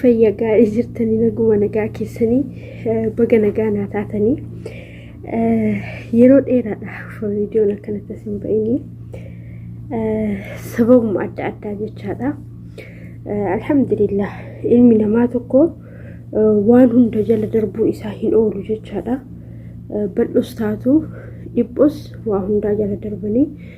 fayya gaarii jirtanii naguma nagaa keessanii baga nagaa naa taatanii yeroo dheeraadhaaf viidiyoon akkanatti as hin ba'inii sababuma adda addaa jechaadha. Alhamdulillah ilmi namaa tokko waan hunda jala darbuun isaa hin oolu jechaadha. Bal'us taatu dhiphus waa hundaa jala darbanii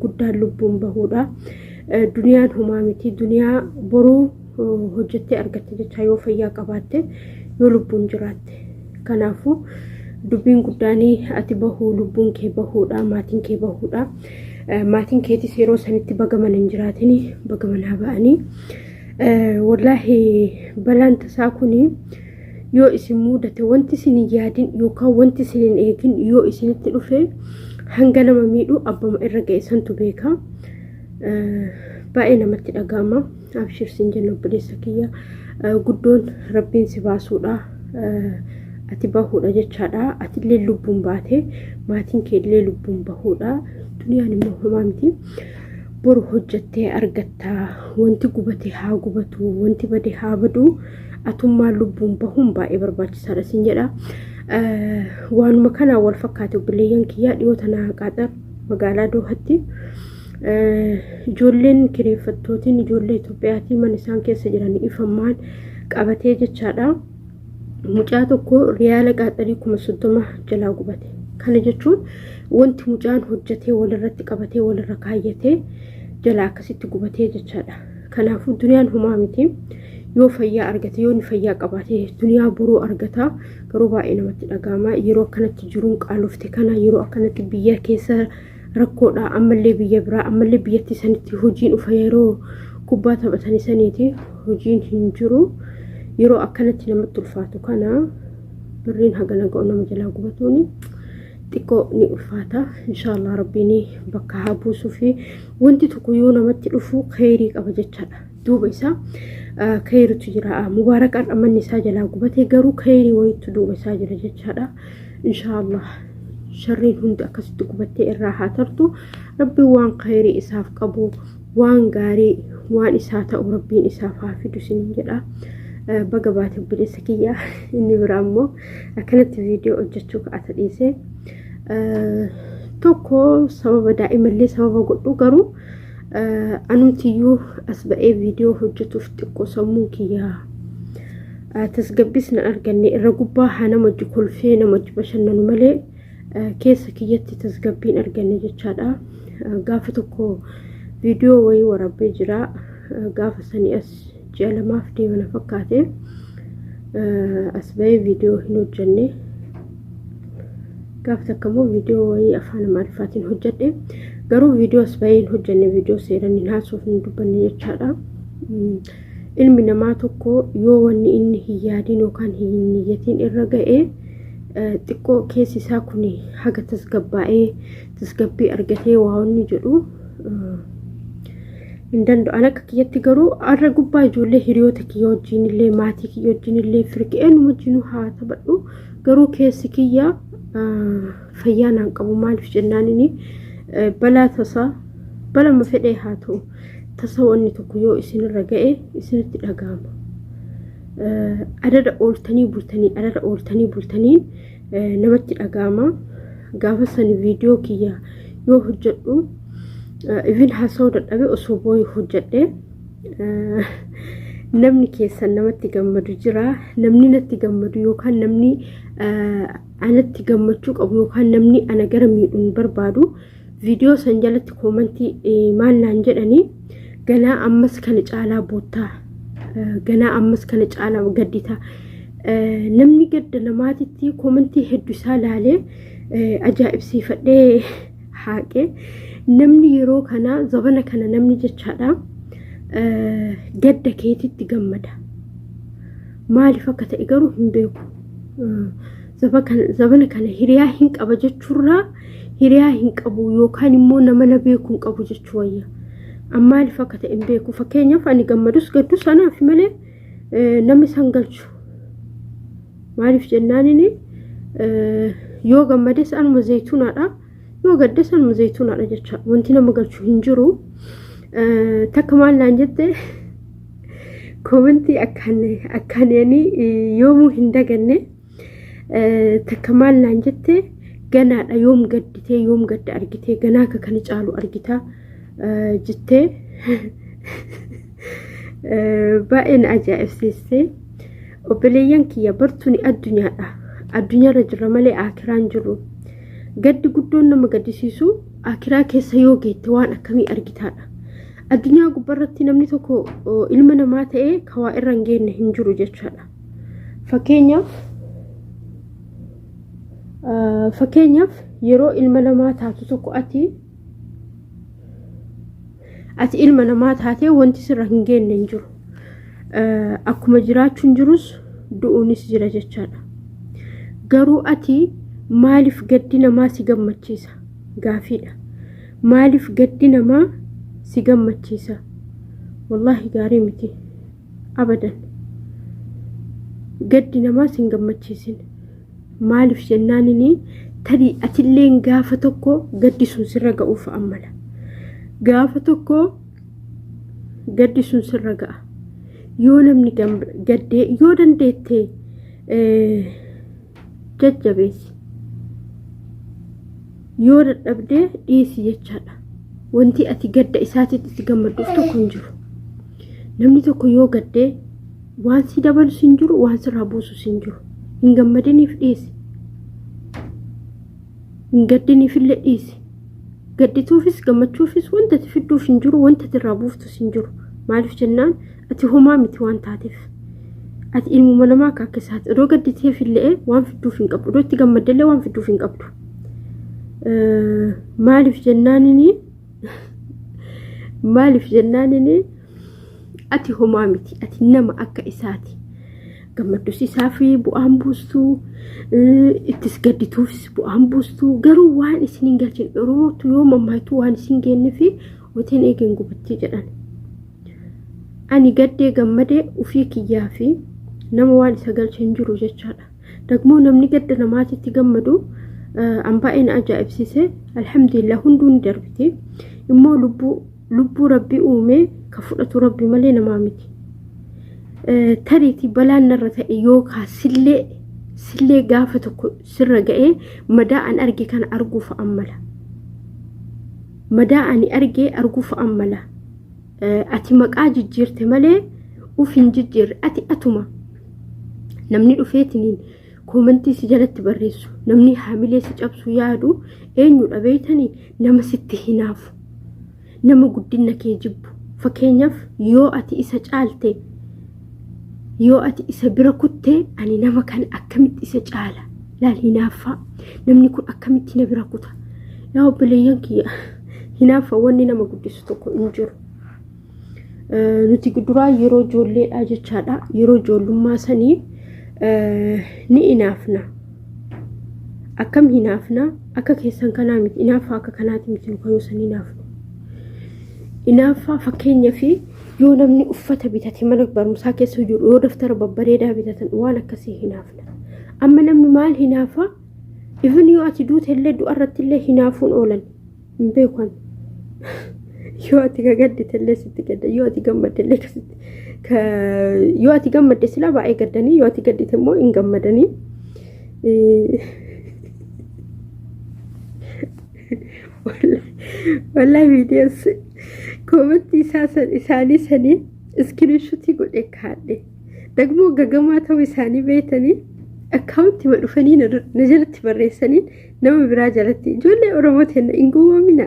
guddaan lubbuun bahuudha. Duniyaan homaa miti. Duniyaa boruu hojjettee argatte jechaa yoo fayyaa qabaatte yoo lubbuun jiraatte. Kanaafuu dubbiin guddaanii ati bahuu lubbuun kee bahuudha maatiin kee bahuudha. Maatiin keetis yeroo sanitti bagaman hin jiraatin bagamanaa ba'anii. Wallaahi balaan tasaa kuni yoo isin muudate wanti isin hin yaadin yookaan wanti isin hin eegin yoo isinitti dhufe hanga nama miidhu abbuma irra ga'e santu beeka. Baay'ee namatti dhaga'ama. Abshir siin jenna obboleessa kiyya. Guddoon rabbiin si baasuudha. Ati bahuudha jechaadha. Ati illee lubbuun baate maatiin kee illee lubbuun bahuudha. Duniyaan immoo homaa miti. Boru hojjettee argatta. Wanti gubate haa gubatu. Wanti bade haa badu. atummaan lubbuun bahuun baay'ee barbaachisaadha siin jedha. Waanuma kanaa wal fakkaate obboleeyyan kiyyaa dhiyoo tanaa qaaxar magaalaa Doohatti ijoolleen kireeffattootiin ijoollee Itoophiyaatii mana isaan keessa jiran ifammaan qabatee jechaadha. Mucaa tokko riyaala qaaxarii kuma soddoma jalaa gubate. Kana jechuun wanti mucaan hojjetee walirratti qabatee walirra kaayyatee jalaa akkasitti gubatee jechaadha. Kanaafuu duniyaan humaa miti. Yoo fayyaa argate, yoo inni fayyaa qabaate duniyaa boruu argata. Garuu baay'ee namatti dhaga'ama. Yeroo akkanatti jiruun qaalofte kana yeroo akkanatti biyya keessa rakkoodha. Ammallee biyya biraa, ammallee biyyatti sanitti hojiin ufa yeroo kubbaa taphatan saniiti hojiin hin jiru. Yeroo akkanatti namatti ulfaatu kana birriin hagana ga'u nama jalaa gubatuuni. xiqqoo ni ulfaata. Inshaallah rabbiin bakka haa buusuu fi Wanti tokko yoo namatti dhufu kheyrii qaba jechaadha. Duuba isaa kheyritu jira. Mubaarakaan manni isaa jalaa gubatee garuu kheyrii wayiitu duuba isaa jira jechaadha. Inshaallah sharriin hundi akkasitti gubattee irraa haa tartu. Rabbi waan kheyrii isaaf qabu waan gaarii waan isaa ta'u rabbiin isaaf haa fidu sinin jedha. Baga baate obboleessa kiyya inni biraa immoo akkanatti viidiyoo hojjechuu ka'ata dhiisee. tokko sababa daa'imallee sababa godhu garuu anumtiyyuu as ba'ee viidiyoo hojjetuuf xiqqoo sammuu kiyyaa tasgabbiis na arganne irra gubbaa haa namatti kolfee namatti bashannanu malee keessa kiyyatti tasgabbiin arganne jechaadha gaafa tokko viidiyoo wayii waraabee jira gaafa sanii as ji'a lamaaf deema na fakkaate as bahee viidiyoo hin hojjenne gaaf takka immoo viidiyoo wayii afaan amaariffaatiin hojjedhe garuu viidiyoo as bahee hin hojjenne viidiyoo seeran hin haasuuf hin dubbanne jechaadha ilmi namaa tokko yoo wanni inni hin yaadin yookaan hin niyyatiin irra ga'e xiqqoo keessi isaa kun haga tasgabbaa'ee tasgabbii argatee waa inni jedhu hin danda'u. An akka kiyyatti garuu har'a gubbaa ijoollee hiriyoota kiyya wajjin illee maatii kiyya wajjin illee firqi eenyuma wajjin haa taphadhu garuu keessi kiyya fayyaa naan qabu maaliif jennaan inni balaa tasaa balama fedhee haa ta'u tasa wanni tokko yoo isinirra ga'e isinitti dhaga'ama. Adada ooltanii bultanii adada ooltanii bultaniin namatti dhaga'ama gaafa sani viidiyoo kiyya yoo hojjedhu even haasa'uu dadhabe osoo booyu hojjedhe namni keessan namatti gammadu jira namni natti gammadu yookaan namni anatti gammachuu qabu yookaan namni ana gara miidhuun barbaadu viidiyoo san jalatti koomantii eh, maal naan jedhanii ganaa ammas kana caalaa boottaa eh, ganaa ammas kana caalaa gadditaa Eh, namni gadda namaatitti koomantii hedduu isaa laalee eh, ajaa'ibsiifadhee haaqee namni yeroo kana zabana kana namni jechaadha eh, gadda keetitti gammada maaliif akka ta'e garuu hin beeku. Eh, Zabana kana hiriyaa hin qaba jechuurraa hiriyaa hin qabu yookaan immoo nama na beeku hin qabu jechuu wayya. Maaliif akka ta'e hin beeku. Fakkeenyaaf ani gammadus gaddus anaaf malee namni san galchu. Maaliif jennaan inni yoo gammades anuma zayituunaadha. Yoo gaddes anuma zayituunaadha jecha wanti nama galchu hin jiru. Takka maal naan jette koomentii akkaan yoomuu hin daganne. Takka maal naan jette ganaadha yoom gadditee yoom gadda argitee ganaa akka kana caalu argita jettee baay'ee na ajaa'ibsiiste. Obboleeyyan kiyya bartuun addunyaadha. Addunyaarra jirra malee akiraan jirru. Gaddi guddoon nama gaddisiisu akiraa keessa yoo geette waan akkamii argitaadha. Addunyaa gubbarratti namni tokko ilma namaa ta'ee kawaa irra hin geenne hin jiru jechaadha. Fakkeenyaaf fakkeenyaaf yeroo ilma namaa taatu tokko ati ati ilma namaa taatee wanti sirra hin geenne hin jiru. Akkuma jiraachuun jirus du'uunis jira jechaadha. Garuu ati maaliif gaddi namaa si gammachiisa? Gaafiidha. Maaliif gaddi namaa si gammachiisa? Wallaahi gaarii miti. abadan gaddi namaa sin gammachiisin maaliif jennaan inni tarii atilleen gaafa tokko gaddi sun sirra ga'uuf ammala gaafa tokko gaddi sun sirra ga'a yoo namni gaddee yoo dandeettee jajjabeessi yoo dadhabdee dhiisi jechaadha wanti ati gadda isaatiitti itti gammadduuf tokko hin jiru namni tokko yoo gaddee waan si dabalus hin jiru waan sirraa buusus hin jiru hin gammadiniif dhiisi hin gaddiniifillee dhiisi gaddituufis gammachuufis wanta ati fidduuf hin jiru wanta ati irraa buuftus hin jiru maaliif jennaan ati homaa miti waan taateef ati ilmuma namaa akka akka isaati odoo gadditeef illee waan fidduuf hin qabdu odoo itti gammadde illee waan fidduuf hin qabdu maaliif jennaanini maaliif jennaanini ati homaa miti ati nama akka isaati gammaddus isaaf bu'aan buustu ittis gaddituufis bu'aan buustu garuu waan isin hin galchin oromootu yoo mammaaktu waan isin geenne fi wateen eegeen gubattee jedhan Ani gaddee gammadee ufii kiyyaa fi nama waan isa galche hin jiru jechaadha. Dagmoo namni gadda namaatitti gammadu an baay'ee na ajaa'ibsiise alhamdulillah hunduu ni darbiti. Immoo lubbuu lubbuu rabbi uumee ka fudhatu rabbi malee namaa miti. Tariitii balaan narra ta'e yookaan sillee sillee gaafa tokko sirra ga'ee madaa an arge kana arguuf ammala. Madaa ani argee arguuf ammala. Ati maqaa jijjiirte malee uf hin jijjiirre ati atuma namni dhufeetiniin koomantii si jalatti barreessu namni haamilee si cabsu yaadu eenyudha beeytanii nama sitti hinaafu nama guddina kee jibbu fakkeenyaaf yoo ati isa caalte yoo ati isa bira kutte ani nama kana akkamitti isa caala laal hinaaffaa namni kun akkamitti na bira kuta yaa obboleeyyan kiyya Hinaaffa wanni nama guddisu tokko hin jiru. Nuti duraa yeroo ijoolleedhaa jechaadha. Yeroo ijoollummaa sanii ni inaafna. Akkam hinaafna akka keessan kanaa miti. Inaaffaa akka kanaati miti nuka yoo san inaafnu. Inaaffaa fakkeenya fi yoo namni uffata bitate mana barumsaa keessa jiru yoo daftara babbareedaa bitatan waan akkasii hinaafna. Amma namni maal hinaafaa? Even yoo ati duute illee du'a irratti illee hinaafuun oolan hin beeku ani. Yoo ati gagaddite illee sitti gadda yoo ati gammadde illee akkasitti ka yoo ati gammadde silaa baay'ee gaddanii yoo ati gaddite immoo hin gammadanii. Wallahi viidiyoos koomentii isaa san isaanii saniin iskiriishutii godhee kaadhe. Dagmoo gagamaa ta'uu isaanii beektanii akkaawuntii ma dhufanii na dur- na jalatti barreessaniin nama biraa jalatti ijoollee Oromoo teenna hin gowwoomina.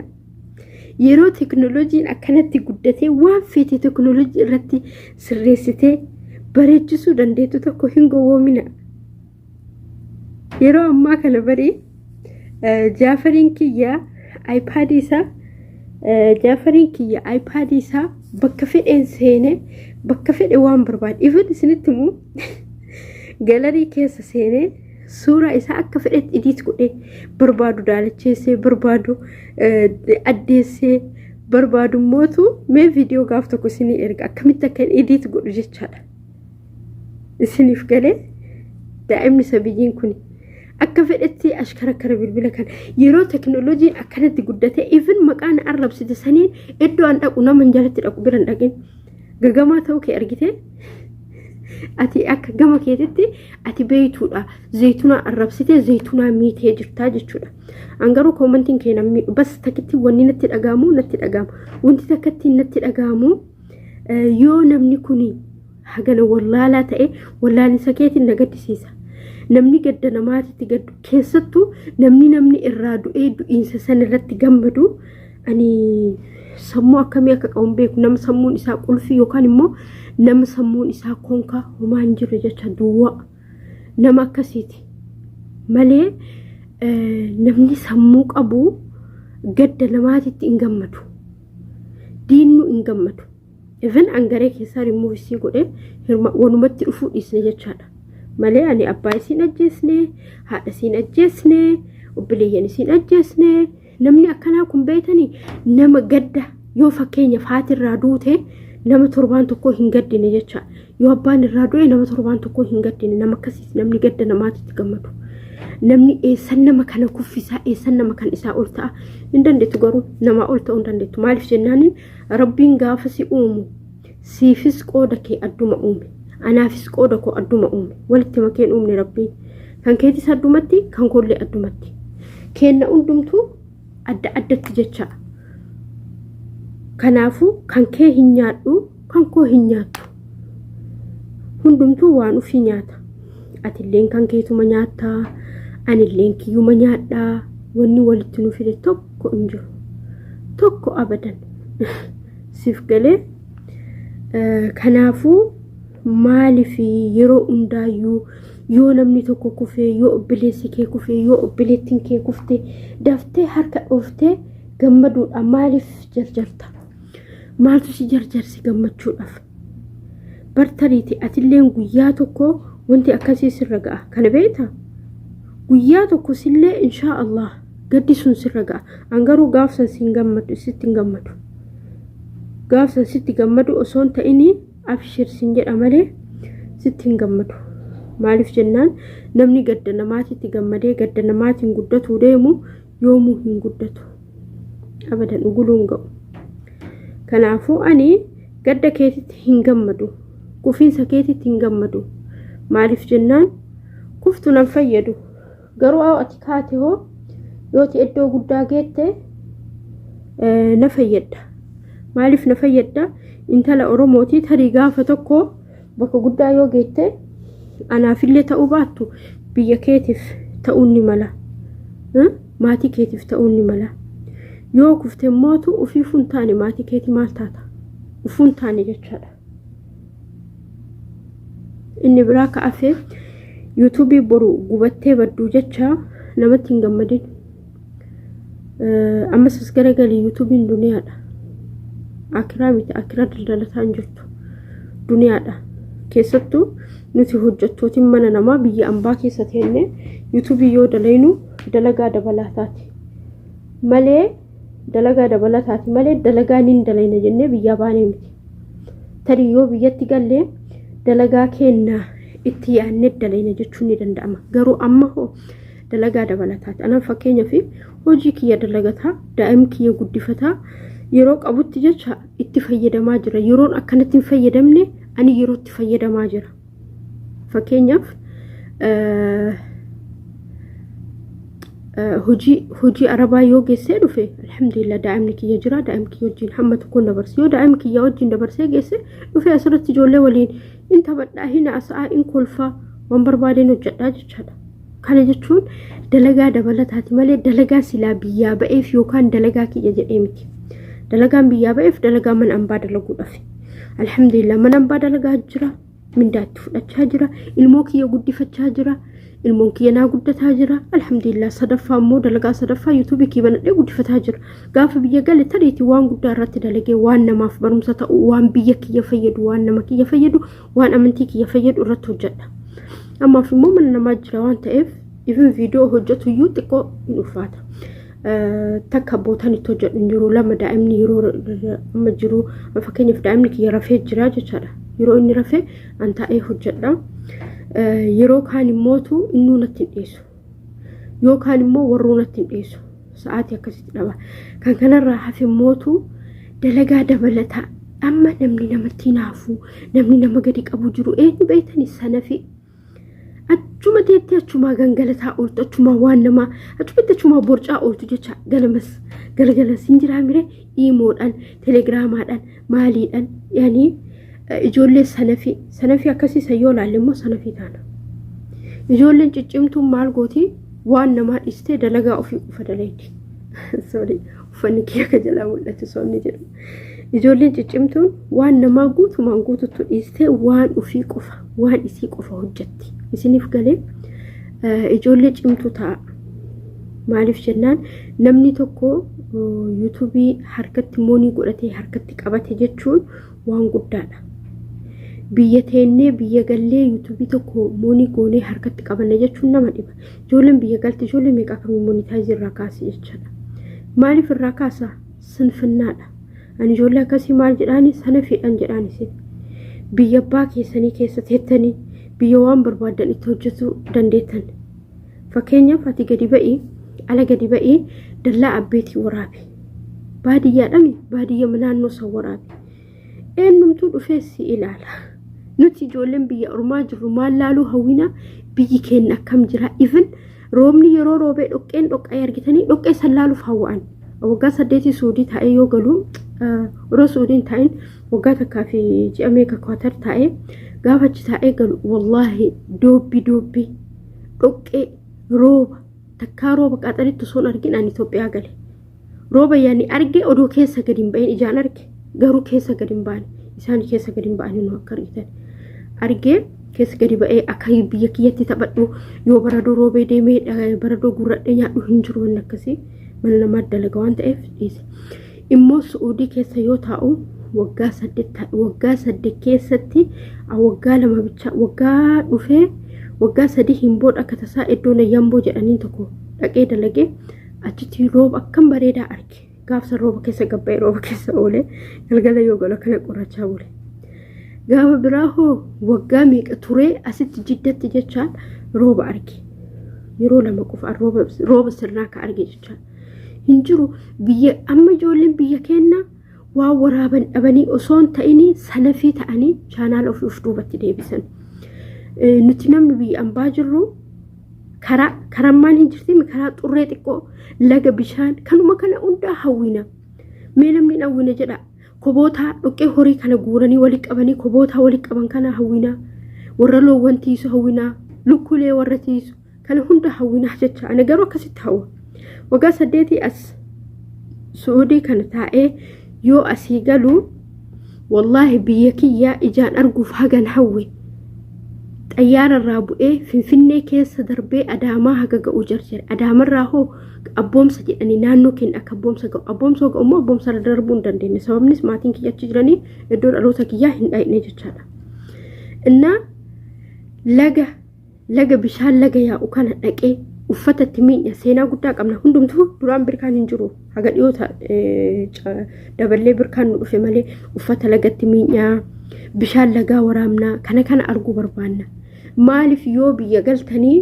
Yeroo teknooloojiin akkanatti guddatee waan feete teknooloojii irratti sirreessitee bareechisuu dandeettu tokko hin gowwoomina. Yeroo ammaa kana barii jaafariin kiyya iPaadii isaa jaafariin kiyya iPaadii isaa bakka fedheen seene bakka fedhe waan barbaade ifan isinitti immoo galarii keessa seenee suuraa isaa akka fedhetti idiit godhee barbaadu daalacheessee barbaadu addeessee barbaadu mootu mee viidiyoo gaaf tokko isinii erga akkamitti akka idiit godhu jechaadha. isiniif galee daa'imni sabiyyiin kun akka fedhetti ashkara akkana bilbila kana yeroo teknooloojiin akkanatti guddate even maqaan arrabsite saniin iddoo an dhaqu nama hin jalatti dhaqu bira hin dhaqin gagamaa ta'uu kee argite ati akka gama keetitti ati beeytuudha zaytunaa arrabsite zaytunaa miitee jirtaa jechuudha an garuu koomantiin kee namni bas takitti wanni natti dhagaamu natti dhagaamu wanti takkatti natti dhagaamu yoo namni kun hagana wallaalaa ta'e wallaalinsa keetiin na gaddisiisa. Namni gadda namaatitti gaddu keessattuu namni namni irraa du'ee du'iinsa san irratti gammadu ani sammuu akkamii akka qabu hin beeku nama sammuun isaa qulfii yookaan immoo nama sammuun isaa konkaa homaa hin jirre jecha duwwaa nama akkasiiti malee eh, namni sammuu qabu gadda namaatitti hin gammadu. diinnu hin gammadu even angaree keessaa rimmuu isii godhee hirma wanumatti dhufuu dhiisne jechaadha malee ani abbaa isiin ajjeesne haadha isiin ajjeesne obboleeyyan isiin ajjeesne namni akkanaa kun beeytanii nama gadda yoo fakkeenyaaf haatirraa duute nama torbaan tokko hin gaddine jecha yoo abbaan irraa du'e nama torbaan tokko hin gaddine nama akkasiis namni gadda namaatitti gammadu namni eessan nama kana kuffisaa eessan nama kan isaa ol ta'a hin dandeettu garuu namaa ol ta'uu hin dandeettu maaliif jennaan rabbiin gaafa si uumu siifis qooda kee adduma uume anaafis qooda koo adduma uume walitti makeen uumne rabbiin kan keetis addumatti kan koollee addumatti kenna hundumtuu adda addatti jecha kanaafuu kan kee hin nyaadhu kan koo hin nyaattu hundumtuu waan ufii nyaata atilleen kan keetuma nyaatta anilleen kiyyuma nyaadha wanni walitti nu fide tokko hin jiru tokko abadan siif galee kanaafuu maaliif yeroo hundaayyuu yoo namni tokko kufee yoo obboleessi kee kufee yoo obboleettiin kee kufte daftee harka dhooftee gammaduudha maaliif jarjarta maaltu si jarjarsi gammachuudhaaf bartariiti atilleen guyyaa tokko wanti akkasii sirra ga'a kana beekta guyyaa tokko sillee inshaa allah gaddi sun sirra ga'a an garuu gaafsan siin gammadu sitti hin gammadu gaafsan sitti gammadu osoo hin ta'inii Abshir sin jedha malee sitti hin gammadu. Maaliif jennaan namni gadda namaatiitti gammadee gadda namaatiin guddatuu deemu yoomuu hin guddatu. Abadan uguluun ga'u. Kanaafuu ani gadda keetitti hin gammadu. Kufiinsa keetitti hin gammadu. Maaliif jennaan kuftu nan fayyadu. Garuu awo ati kaate hoo yooti iddoo guddaa geette na fayyadda. Maaliif na fayyadda? Intala Oromootii tarii gaafa tokko bakka guddaa yoo geette anaafillee ta'uu baattu biyya keetiif ta'uun ni mala. Maatii keetiif ta'uun ni mala. Yoo kufte mootu ofii fuun taane maatii keetii maal taata? Ufuun taane jechaadha. inni biraa ka afee yuutuubii boru gubattee badduu jecha namatti hin gammadin ammas as garagalii yuutuubiin duniyaadha akiraa miti akiraa daldalataa hin jirtu duniyaadha keessattuu nuti hojjettootiin mana namaa biyya ambaa keessa teenne yuutuubii yoo dalaynu dalagaa dabalaa taati malee Dalagaa dabalataati malee dalagaa nin dalayna jennee biyyaa baanee miti. Tarii yoo biyyatti gallee dalagaa keenna itti yaadne dalayna jechuun ni danda'ama. Garuu amma hoo dalagaa dabalataati. Anaan fakkeenya fi hojii kiyya dalagataa, daa'im kiyya guddifataa yeroo qabutti jecha itti fayyadamaa jira. Yeroon akkanatti hin fayyadamne ani yerootti fayyadamaa jira. Fakkeenyaaf hojii arabaa yoo geessee dhufe alhamdulillah daa'imni kiyya jira daa'imni kiyya wajjin hamma tokkoon dabarse yoo daa'imni kiyya wajjin dabarsee geesse dhufe asirratti ijoollee waliin in taphadhaa hin haasa'aa in kolfaa waan barbaadeen hojjedhaa jechaadha. Kana jechuun dalagaa dabalataati malee dalagaa silaa biyyaa ba'eef yookaan dalagaa kiyya jedhee miti. Dalagaan biyyaa ba'eef dalagaa mana ambaa dalaguudhaaf. Alhamdulillah mana ambaa dalagaa jira. Mindaa itti fudhachaa jira. Ilmoo kiyya guddifachaa jira. Ilmoon kiyya naa guddataa jira. Alhamdulillah sadaffaa immoo dalagaa sadaffaa yuutuubii kiyya banadhee guddifataa jira. Gaafa biyya gale tariitii waan guddaa irratti dalagee waan namaaf barumsa ta'u waan biyya kiyya fayyadu waan nama kiyya fayyadu waan amantii kiyya fayyadu irratti hojjedha ammaaf immoo mana namaa jira waan ta'eef ifin viidiyoo hojjetu iyyuu xiqqoo hin ulfaata takka bootaan itti hojjedhu hin jiru lama daa'imni yeroo amma jiru fakkeenyaaf daa'imni kiyya rafee jira jechaadha yeroo inni rafee an taa'ee hojjedha yeroo kaan immootu innuu natti hin dhiyeessu yookaan immoo warroonatti hin dhiisu sa'aatii akkasitti dhaba kan kanarraa hafe mootu dalagaa dabalataa amma namni namatti hinaafuu namni nama gadi qabu jiru eenyu beektani sanafi achuma teettee achumaa gangalataa ooltu achumaa waan namaa achumatti achumaa borcaa ooltu jecha galamas galagalas hin jiraa mire iimoodhaan telegiraamaadhaan maaliidhaan yaani ijoollee sanafii sanafii akkasii san yoo laalle immoo sanafii taana. Ijoolleen ciccimtuun maal gooti waan namaa dhistee dalagaa ofii ufa dalayti. Sorry uffanni kiyya akka jalaa mul'atu soonni jedhu. Ijoolleen ciccimtuun waan namaa guutumaan guututtu dhiistee waan ofii qofa waan isii qofa hojjetti. Isiniif galee ijoollee cimtuu ta'a. Maaliif jennaan namni tokko yuutuubii harkatti moonii godhatee harkatti qabate jechuun waan guddaadha. Biyya teennee biyya gallee yuutuubii tokko moonii goonee harkatti qabanna jechuun nama dhiba. Ijoolleen biyya galti ijoollee meeqa akkamii monitaayizii irraa kaasi jechaadha. Maaliif irraa kaasa? Sinfinnaadha. Ani ijoollee akkasii maal jedhaani sana fedhan jedhaan isin. Biyya abbaa keessanii keessa teettanii biyya waan barbaaddan itti hojjetuu dandeettan. Fakkeenyaaf ati gadi ba'ii ala gadi ba'ii dallaa abbeetii waraabi. Baadiyyaadhaan baadiyyaa naannoo isaa waraabi. Eenyumtuu dhufee si ilaala. Nuti ijoolleen biyya ormaa jirru maal laaluu hawwina biyyi keenya akkam jira. Even roobni yeroo roobee dhoqqeen dhoqqee argitanii dhoqqee san laaluuf hawwa'an. Waggaa saddeetii suudii taa'ee yoo galu yeroo suudiin taa'in waggaa takkaa fi ji'a meeqa kwaatar taa'ee gaafa achi taa'ee galu wallaahi doobbi doobbi dhoqqee rooba takkaa rooba qaxaritti osoon argin an Itoophiyaa gale rooba yaani arge odoo keessa gadi hin ba'in ijaan arge garuu keessa gadi hin baane isaan keessa gadi hin ba'anii nu akka argitan argee keessa gadi ba'ee akka biyya kiyyatti taphadhu yoo baradoo roobee deemee baradoo gurradhee nyaadhu hin jiru wanni akkasii mana namaa dalaga waan ta'eef dhiise. immoo su'uudii keessa yoo taa'u waggaa saddeet ta'a. waggaa saddeet keessatti ah, waggaa lama bichaa waggaa dhufee waggaa sadii hin booda akka tasaa iddoo nayyamboo jedhaniin tokko dhaqee dalagee achitti rooba akkam bareedaa arge gaafsa rooba keessa gabba'e rooba keessa oole galgala yoo galu akkana qorachaa bule. gaafa biraa hoo waggaa meeqa turee asitti jiddatti jechaan rooba arge yeroo lama qofaan rooba rooba sirnaa ka arge jechaan hin jiru biyya amma ijoolleen biyya keenya waan waraaban dhabanii osoo hin ta'inii salafii ta'anii chaanaala ofii of duubatti deebisan. Eh, Nuti namni biyya ambaa jirru karaa karammaan hin jirtiin karaa xurree xiqqoo laga bishaan kanuma kana hundaa hawwina. Mee namni hin hawwina jedha kobootaa dhoqqee horii kana guuranii walitti qabanii kobootaa walitti qaban kana hawwina. Warra loowwan tiisu hawwina. Lukkulee warra tiisu. Kana hunda hawwinaa jecha ana garuu akkasitti hawwa. Waggaa saddeetii as Su'uudii kana taa'ee yoo asii galu wallaahi biyya kiyyaa ijaan arguuf hagan hawwe. Xayyaara irraa bu'ee Finfinnee keessa darbee Adaamaa haga ga'uu jarjare. Adaamarraa hoo abboomsa jedhanii naannoo keenya akka abboomsa ga'u. Abboomsa ga'u immoo abboomsa irra darbuu hin dandeenye. Sababnis maatiin kiyya achi jiranii iddoo dhaloota kiyyaa hin dhayne jechaadha. Innaa laga laga bishaan laga yaa'u kana dhaqee uffata itti miidha seenaa guddaa qabna hundumtuu duraan birkaan hin jiru haga dhiyoota daballee birkaan nu dhufe malee uffata lagatti miidhaa bishaan lagaa waraabnaa kana kana arguu barbaanna maaliif yoo biyya galtanii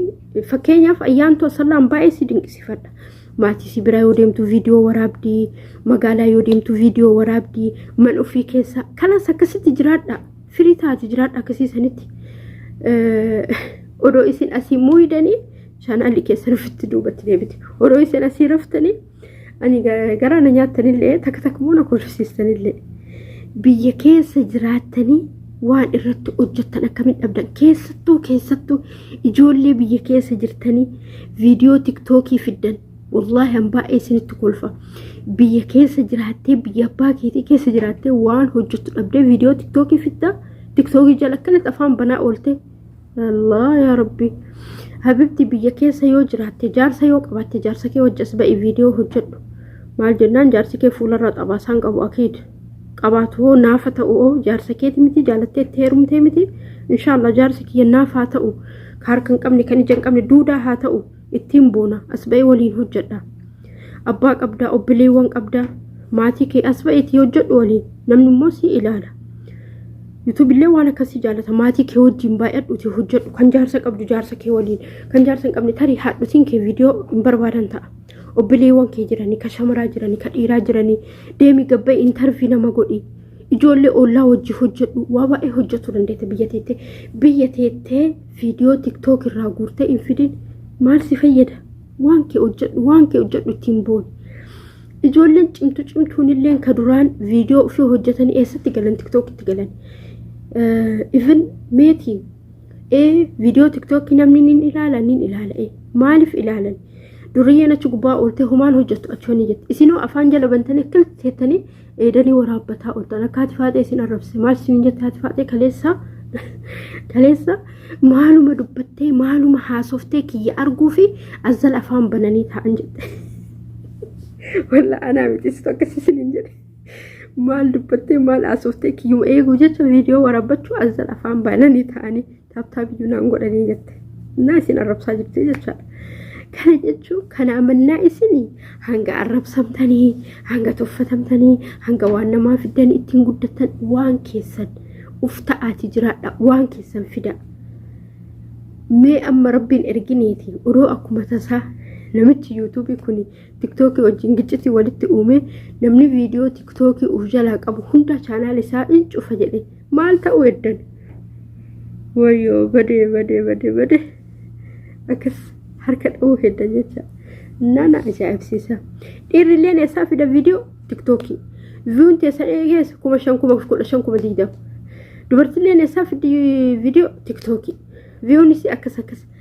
fakkeenyaaf ayyaantoo sallaan baay'ee si dinqisifadha maatii si biraa yoo deemtu viidiyoo waraabdii magaalaa yoo deemtu viidiyoo waraabdii man ofii keessa kanas akkasitti jiraadha Firii taati jiraadha akkasii sanitti odoo isin asii muuyidanii chaanaalli keessan ofitti duubatti deebite. Odoo isin asii raftanii ani garaa na nyaatanillee takka takka immoo na kolfisiistanillee biyya keessa jiraattanii waan irratti hojjettan akkamitti dhabdan keessattuu keessattuu ijoollee biyya keessa jirtanii viidiyoo tiktookii fiddan Wallaahi an baay'ee isinitti kolfa. Biyya keessa jiraattee biyya abbaa keetii keessa jiraattee waan hojjettu dhabdee viidiyoo tiktookii fidda tiktookii jala akkanatti afaan banaa oolte. Allah yaa rabbi. Habibti biyya keessa yoo jiraatte jaarsa yoo qabaatte jaarsa kee wajjin as ba'i viidiyoo hojjedhu. Maal jennaan jaarsi kee fuularraa xabaasaan qabu akiid. Qabaatu hoo naafa ta'u hoo jaarsa keeti miti jaalattee itti heerumtee miti. Inshaallah jaarsi kiyya naafaa ta'u. Ka harka hin qabne kan ija hin qabne duudaa haa ta'u. ittiin boona as ba'ee waliin hojjedha abbaa qabdaa obboleewwan qabdaa maatii kee as ba'eetii hojjedhu waliin namni immoo si ilaala yuutuubillee waan akkasii jaalata maatii kee wajjin baay'adhuuti hojjedhu kan jaarsa qabdu jaarsa kee waliin kan jaarsa hin qabne tarii haadhotiin kee viidiyoo hin barbaadan ta'a obboleewwan kee jiranii ka shamaraa jiranii ka dhiiraa jiranii deemi gabba'e intarvii nama godhi ijoollee ollaa wajji hojjedhu waa baay'ee hojjetu dandeette biyya teettee biyya teettee viidiyoo tiktook irraa guurtee hin fidin maal si fayyada waan kee hojjedhu waan kee hojjedhu ittiin booni ijoolleen cimtu cimtuun illee ka duraan viidiyoo ofii hojjetanii eessatti galan tiktook itti galan even meetiin ee viidiyoo tiktookii namni nin ilaala nin ilaala ee maaliif ilaalan duriyyeen achi gubbaa ooltee homaan hojjettu achi honi jette isinoo afaan jala bantanii akkamitti jettanii Eedanii waraabbataa oltan akka haati faaxee isin arrabse maal siin jette haati faaxee kaleessa kaleessa maaluma dubbattee maaluma haasoftee kiyya arguu fi azzal afaan bananii taa'an jette. Walla anaa miti situ akkas isin hin jedhe. Maal dubbattee maal haasoftee kiyyuma eeguu jecha viidiyoo waraabbachuu azzal afaan bananii taa'anii. taaptaap iyyuu naan godhanii jette naa isin arrabsaa jirti jechaadha. Kana jechuun kana amannaa isin hanga arrabsamtanii hanga tuffatamtanii hanga waan namaa fiddan ittiin guddatan waan keessan uf ta'aati jiraadha waan keessan fida. Mee amma rabbiin ergineeti odoo akkuma tasaa namichi yuutuubii kun tiktookii wajjin giccitii walitti uumee namni viidiyoo tiktookii of jalaa qabu hunda chaanaal isaa in cufa jedhe maal ta'uu eddan wayyoo badee badee badee badee akkas harka dha'uu heddan jecha nana ajaa'ibsiisa dhiirrilleen eessaa fida viidiyoo tiktookii viyuun teessan eegeessa kuma shan kuma kudha shan kuma digdama dubartilleen eessaa fiddi viidiyoo tiktookii viyuunis akkas akkas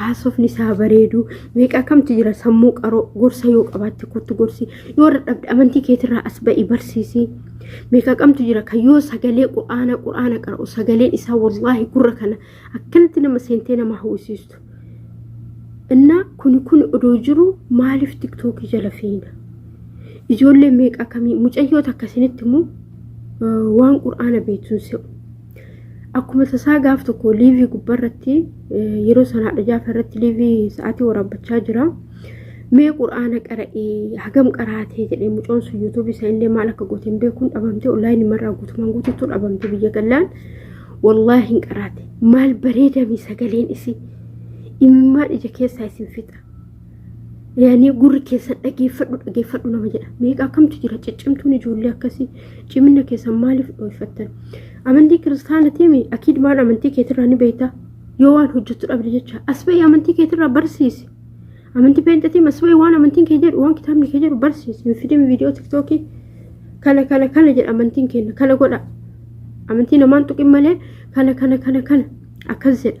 haasofni isaa bareedu meeqa akkamtu jira sammuu qaroo gorsa yoo qabaatte kottu gorsi yoo dadhabde amantii keetirraa as ba'i barsiisi meeqa akkamtu jira kan yoo sagalee qur'aana qur'aana qara'u sagaleen isaa wallaahi gurra kana akkanatti nama seentee nama hawwisiistu innaa kuni kun odoo jiru maaliif tiktookii jala fiina ijoollee meeqa akkamii mucayyoota akkasinitti immoo waan qur'aana beektuun se'u Akkuma tasaa gaaf tokko liivii gubbarratti yeroo sanaadha jaafa irratti liivii sa'aatii waraabbachaa jira. Mee quraana qara'ii hagam qaraatee jedhee mucoon sun yuutuubii isaa illee maal akka goote hin beekuun dhabamtee onlaayinii marraa guutumaan guutuutu dhabamte biyya gallaan. Wallaahi hin qaraate maal bareedami sagaleen isii imimmaan ija keessaa isin fixa. yaanii gurri keessan dhageeffadhu dhageeffadhu nama jedha meeqa akkamtu jira ciccimtuun ijoollee akkasii cimina keessan maaliif dhooyfattan amantii kiristaana tiimi akiid waan amantii keetirraa ni beekta yoo waan hojjettu dhabde jecha asba'ii amantii keetirraa barsiisi amantii peenxatiin asba'ii waan amantiin kee jedhu waan kitaabni kee jedhu barsiisi hin fidin viidiyoo tiktookii kana kana kana jedha amantiin keenya kana godha amantii namaan tuqin malee kana kana kana kana akkas jedha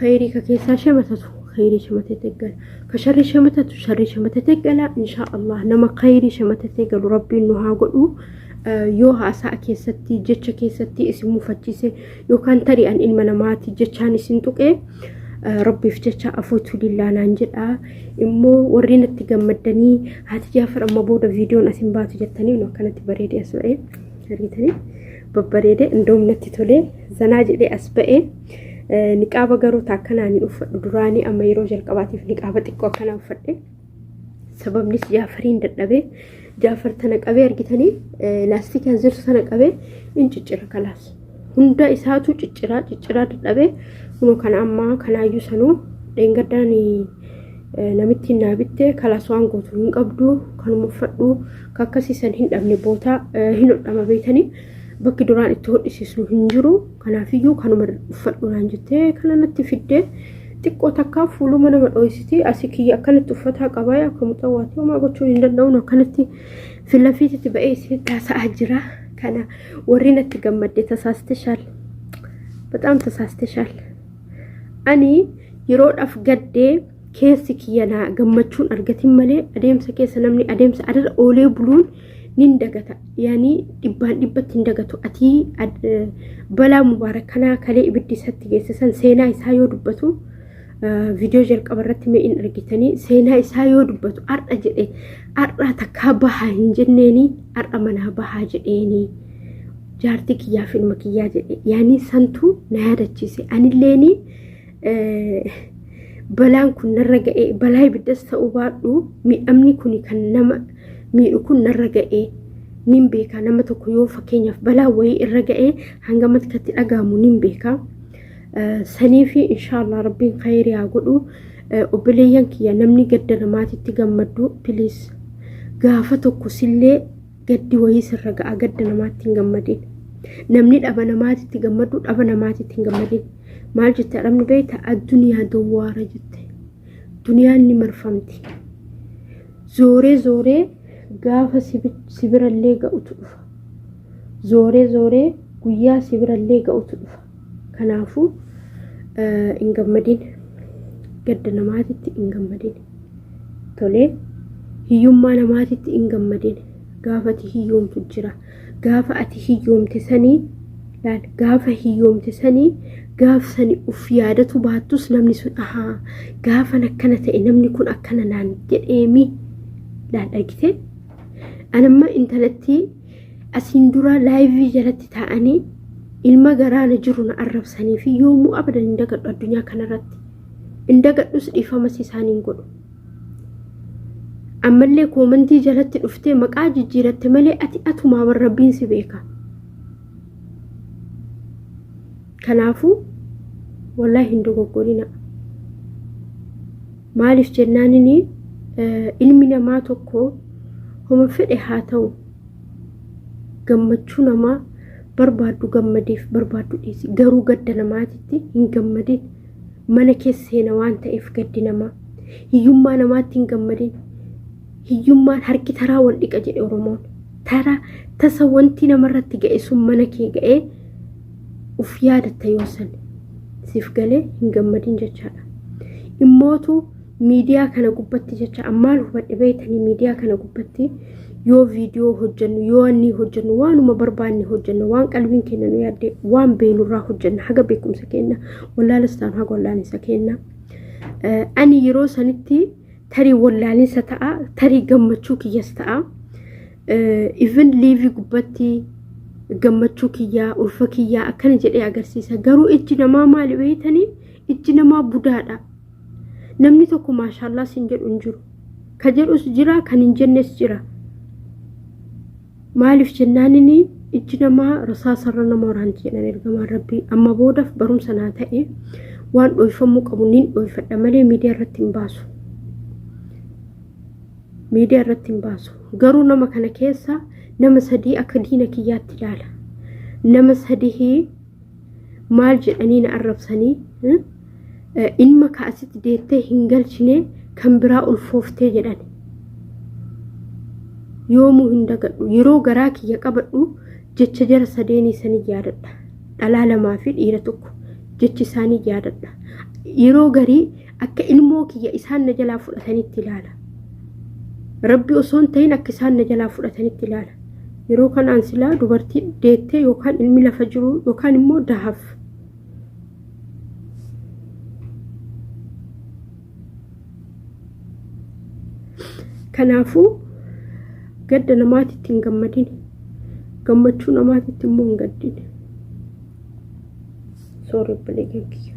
Khayrii ka keessaa shamatatu khayrii shamatee teggala. Ka sharrii shamatatu sharrii shamatee teggala. Inshaa Allah nama khayrii shamatee teggalu rabbiin nu haa godhu. yoo haasa'a keessatti jecha keessatti isin mufachiise yookaan tarii an ilma namaati jechaan isin tuqee rabbiif jecha afuutu dillaanaan jedha immoo warri natti gammaddanii haati jaafar amma booda viidiyoon asin baatu jettanii nu akkanatti bareedee as ba'ee argitanii babbareedee indoom natti tolee zanaa jedhee as ba'ee Niqaaba garuu taakkanaan hin uffadhu duraanii amma yeroo jalqabaatiif niqaaba xiqqoo akkanaa uffadhe. Sababnis jaafariin dadhabee jaafar tana qabee argitanii laastikaa zirsu tana qabee in ciccira kalaas. Hunda isaatu cicciraa cicciraa dadhabee kunoo kana ammaa kanaayyuu sanuu dheengaddaan namittiin naa bitte kalaas waan gootu hin qabdu kanuma uffadhu kakkasiisan hin dhabne bootaa hin hodhama beeytanii bakki duraan itti hodhisiisnu hin jiru. Kanaafiyyuu kanuma uffadhu naan jettee kana natti fiddee xiqqoo takkaa fuuluma nama dho'isitii asii kiyya akkanatti uffataa qabaa akka mucaa waati homaa gochuun hin danda'uun akkanatti filafiititti ba'ee isin taasa'aa jira. Kana warri natti gammadde tasaasteshaal. Bataam tasaasteshaal. Ani yeroodhaaf gaddee keessi kiyya naa gammachuun argatin malee adeemsa keessa namni adeemsa adara oolee buluun nin dagata yaani dhibbaan dhibbatti hin dagatu atii balaa mubaarak kanaa kalee ibiddi isatti geesse san seenaa isaa yoo dubbatu viidiyoo jalqaba irratti mee in argitanii seenaa isaa yoo dubbatu har'a jedhe har'aa takkaa bahaa hin jenneeni har'a manaa bahaa jedheeni jaartii kiyyaaf ilma kiyyaa jedhe yaani santu na yaadachiise anilleeni balaan kun narra ga'ee balaa ibiddas ta'uu baadhu miidhamni kun kan nama miidhu kun narra ga'ee nin beeka nama tokko yoo fakkeenyaaf balaa wayii irra ga'ee hanga matkatti dhaga'amu nin beeka sanii fi inshaallah rabbiin khayrii haa godhu obboleeyyan kiyya namni gaddana maatitti gammaddu piliis gaafa tokko sillee Gaddi wayii sirra ga'a gadda namaatti hin gammadin. Namni dhaba namaatitti gammadu dhaba namaatitti hin gammadin. Maal jette arabni beekta addunyaa dawwaara jette. Duniyaan ni marfamti. Zooree zooree gaafa sibirallee ga'utu dhufa. Zooree zooree guyyaa sibirallee ga'utu dhufa. Kanaafuu hin gammadin. Gadda namaatitti hin gammadin. Tolee hiyyummaa namaatitti hin gammadin. Gaafa ati hiyyoomtu jira. Gaafa ati hiyyoomte sanii laal gaafa hiyyoomte sanii gaaf sani uf yaadatu baattus namni sun ahaa gaafan akkana ta'e namni kun akkana naan jedheemi laal argitee anamma intalattii asiin duraa laayivii jalatti taa'anii ilma garaana jiru na arrabsanii fi yoomuu abadan hin dagadhu addunyaa kanarratti hin dagadhus dhiifamas isaan hin godhu ammallee koomantii jalatti dhuftee maqaa jijjiiratte malee ati atumaa bar rabbiin si beeka kanaafuu wallahi hin dogoggorina Maaliif jennaanini ilmi namaa tokko homa fedhe haa ta'u gammachuu namaa barbaaddu gammadeef barbaaddu dhiisi garuu gadda namaatitti hin gammadin mana keessa seena waan ta'eef gaddi namaa hiyyummaa namaatti hin gammadin hiyyummaan harki taraa wal dhiqa jedhe oromoon taraa tasa wanti namarratti ga'e sun mana kee ga'ee uf yaadatta yoo san siif galee hin gammadin jechaadha. Immootu miidiyaa kana gubbatti jecha ammaan hubadhe beeytanii miidiyaa kana gubbatti yoo viidiyoo hojjennu yoo annii hojjennu waanuma barbaanne hojjenna waan qalbiin keenya nu yaadde waan beeynurraa hojjenna haga beekumsa keenya wallaalas taanu haga wallaalinsa keenya. Ani yeroo sanitti tarii wallaalinsa ta'a tarii gammachuu kiyyas ta'a. even liivii gubbatti gammachuu kiyyaa ulfa kiyyaa akkana jedhee agarsiisa garuu ijji namaa maali beeytanii ijji namaa budaadha namni tokko maashaallaa sin jedhu hin jiru ka jedhus jira kan hin jennes jira maaliif jennaanini ijji namaa rasaasarra nama waraanti jedhan ergamaan rabbii amma boodaaf barumsa naa ta'e waan dhoofamuu qabu niin dhoofadha malee miidiyaa irratti hin baasu miidiyaa irratti hin baasu garuu nama kana keessa nama sadii akka diina kiyyaatti ilaala nama sadii maal jedhanii na arrabsanii hmm? Eh, ilma ka asitti deettee hin galchine kan biraa ulfooftee jedhan yoomuu hin dagadhu yeroo garaa kiyya qabadhu jecha jara sadeenii sanii yaadadha dhalaa lamaa fi dhiira tokko jechi isaanii yaadadha yeroo garii akka ilmoo kiyya isaan na jalaa fudhatanitti ilaala rabbi osoo hin ta'in akka isaan na jalaa fudhatanitti ilaala yeroo kanaan silaa dubartii deettee yookaan ilmi lafa jiru yookaan immoo dahaf kanaafuu gadda namaatitti hin gammadin gammachuu namaatitti immoo hin gaddin soorri obboleeyyan kiyya